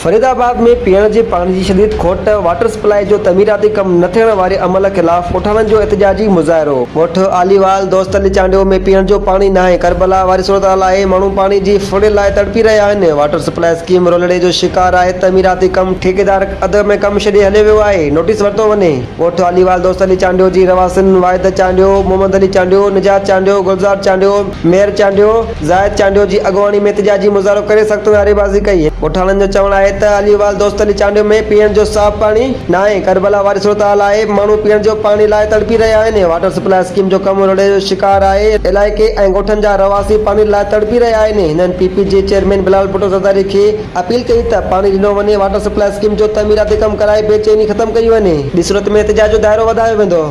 فريد آباد ۾ پيئڻ جي پاڻي جي شديد کوٽ، واٽر سپلائي جو تعميراتي ڪم نه ٿيڻ واري عمل خلاف ڳوٺاڻن جو احتجاجي مظاهرو. ڳوٺ عليوال دوست علي چانڊيو ۾ پيئڻ جو پاڻي ناهي، ڪربلا واري صورتحال آهي، ماڻهو پاڻي جي ڦڙي لاء تڙپي رهيا آهن، واٽر سپلائي اسڪيم رولڙي جو شڪار آهي، تعميراتي ڪم ٺيڪيدار اڌ ۾ ڪم ڇڏي هليو ويو آهي، نوٽيس ورتو وڃي. ڳوٺ عليوال دوست علي چانڊيو جي رهواسين واحد چانڊيو، محمد علي چانڊيو، نجات چانڊيو، گلزار چانڊيو، مير چانڊيو، زاهد چانڊيو جي اڳواڻي ۾ احتجاجي مظاهرو ڪري سخت نعريبازي ڪئي. ڳوٺاڻن جو چوڻ آهي ته علي وال دوست علي چانڊيو ۾ پيئڻ جو صاف پاڻي ناهي، ڪربلا واري صورتحال آهي، ماڻهو پيئڻ جو پاڻي لاء تڙپي رهيا آهن، واٽر سپلاء اسڪيم جو ڪم روڙي جو شڪار آهي، علائقي ۽ ڳوٺن جا رهواسي پاڻي لاء تڙپي رهيا آهن، هنن پي پي جي چيئرمين بلال ڀٽو زرداري کي اپيل ڪئي ته پاڻي ڏنو وڃي، واٽر سپلاء اسڪيم جو تعميراتي ڪم ڪرائي بي چيني ختم ڪئي وڃي. ٻي صورت ۾ احتجاج جو دائرو وڌايو ويندو.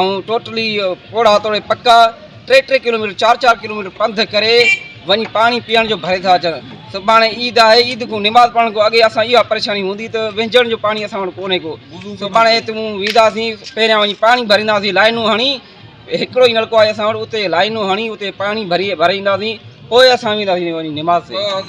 ۽ ٽوٽلي پوڙها توڙي پڪا ٽي ٽي ڪلوميٽر چار چار ڪلوميٽر پنڌ ڪري وڃي پاڻي پيئڻ جو ڀري ٿا اچن سڀاڻي عيد آهي عيد کان نماز پڙهڻ کان اڳي اسان اها پريشاني هوندي ته وهنجڻ جو پاڻي اسان وٽ ڪونهي ڪو سڀاڻي هت مون وينداسين پهريان وڃي پاڻي ڀرينداسين لائنون هڻي هڪڙو ئي نلڪو آهي اسان وٽ اتي لائنون هڻي اتي پاڻي ڀري ڀري اينداسين پوء اسان وينداسين وڃي نماز تي